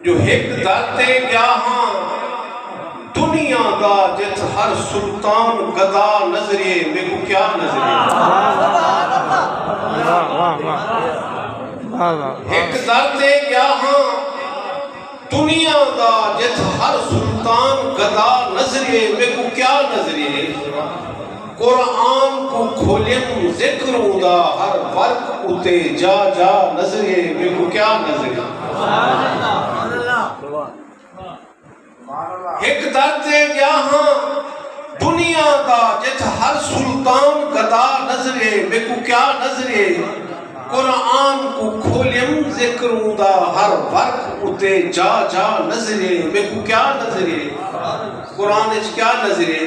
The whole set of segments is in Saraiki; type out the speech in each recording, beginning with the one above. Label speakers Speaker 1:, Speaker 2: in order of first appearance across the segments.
Speaker 1: جو ہک درتے گیا ہاں دنیا دا جت ہر سلطان گدا نظریے میں کو کیا نظریے ہک درتے گیا ہاں دنیا دا جت ہر سلطان گدا نظریے میں کو کیا نظریے قرآن کوں کھولیم ذکر اوندا ہر ورق اتے جا جا نظرے میکوں کیا نظرے ہک در تے گیا ہاں دنیا دا جتھ ہر سلطان گدا نظرے میکوں کیا نظرے قرآن کو کھولیم ذکر اوندا ہر ورق اتے جا جا نظرے میکوں کیا نظرے قرآن اچ کیا نظرے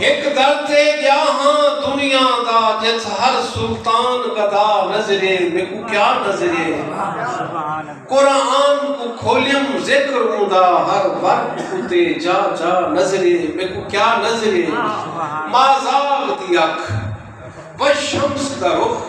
Speaker 1: ہک در تے گیا ہاں دنیا دا جس ہر سلطان گدا نظرے میں کو کیا نظرے قرآن کو کھولیم ذکر ہوں دا ہر وقت کتے جا جا نظرے میں کو کیا نظرے مازال دی اکھ بشمس دا رخ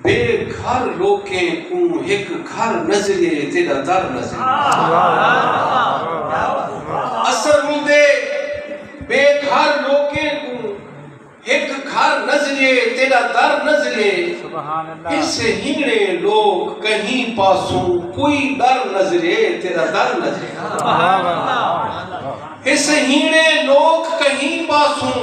Speaker 1: بے گھر لوکیں کوں ہک گھر نظریے اے تیڈا در نظریہ اثر ہوندے بے گھر لوکیں کوں ہک گھر نظریے تیڈا در نظریے اس ہنگڑے لوک کہیں پاسوں کوئی در نظریے تیرا در نظریے اس ہنگڑے لوک کہیں پاسوں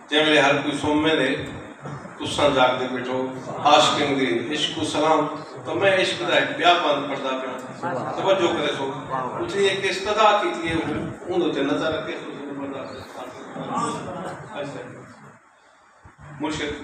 Speaker 1: جیں ویلے ہر کوئی سومے دے تساں جاگدے بیٹھو عاشقین دے عشق کوں سلام تاں میں عشق دا ہک بیا بند پڑھدا پیاں توجہ کریسو اتھیں ہک استدا کیتی ہے اون اتے نظر رکھے سو مرشد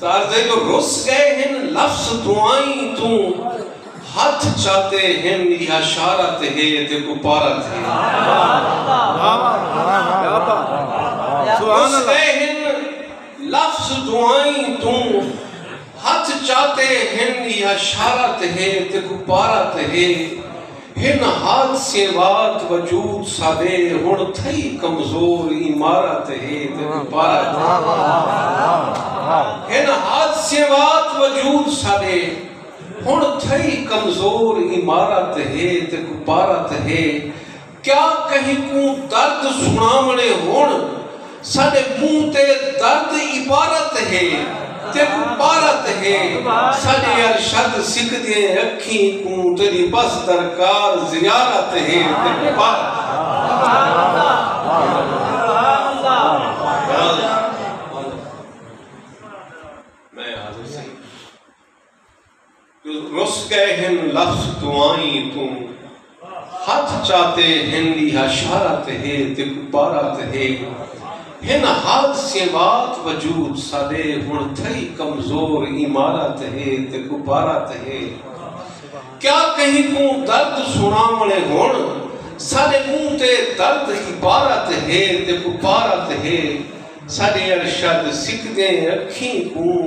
Speaker 1: تردے جو رس گئے ہن لفظ دعائیں توں ہتھ چاتے ہن یا شارت ہے تے کو پارت ہے رس گئے ہن لفظ دعائیں توں ہتھ چاتے ہن یا شارت ہے تے کو پارت ہے ہن حادثے وات وجود ساڈے ہن تھئی کمزور عمارت ہے تے عبارت ہن حادثے وات وجود ساڈے ہن تھئی کمزور عمارت ہے تے عبارت ہے کیا کہیں کوں درد سناونے ہن ساڈے منہ تے درد عبارت ہے تیکوں پارت ہے ساڈے ارشد سکھ دیاں اکھیں کوں تیڈی بس درکار زیارت ہے تیکوں پارت ہے رس گئے ہن لفظ دعائیں توں ہتھ چاتے ہن ایہا شارت ہے تے کپارت ہے ہن حادثیں بات وجود ساڈے ہن تھئی کمزور عمارت ہے تے کپارت ہے کیا کہیں کوں درد سناونے ہن ساڈے منہ تے درد عبارت ہے تے کپارت ہے ساڈے ارشد سکھدیں اکھیں کوں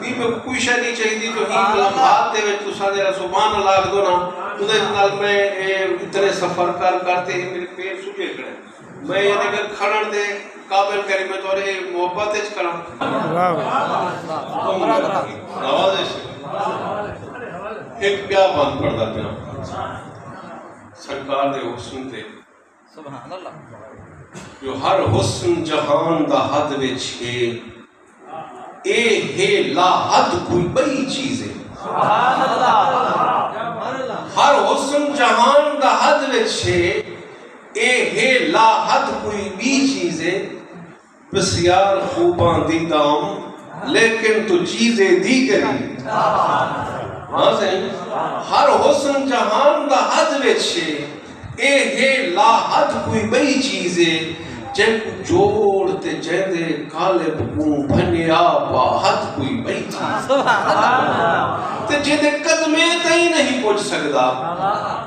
Speaker 1: ایں میکوں کوئی شئے نئیں چاہیدی جو ایں لمحات دے وچ تساں جیڑھا سبحان اللہ آکھدو نا اوندے نال میں اے اتنے سفر کر کر تے اے میڈے پیر سجے کھڑے میں اے نگر کھڑن دے قابل کری میں تہاڈے اے محبت وچ کھڑاں نوازش اک پیا بند پڑھدا پیاں سرکار دے حسن تے جو ہر حسن جہان دا حد وچ ہے اے ہے لا حد کوئی بئی چیز ہے ہر حسن جہان دا حد وچ ہے اے ہے لا حد کوئی بی چیز ہے بسیار خوباں دی دام لیکن تو چیز اے دیگری ہاں سائیں ہر حسن جہان دا حد وچ اے اے ہے لا حد کوئی بئی چیز اے جیں کو جوڑ تے جیندے کالب کوں بھنیا با حد کوئی بئی چیز تے جیندے قدمے تئیں نہیں پوچھ سکدا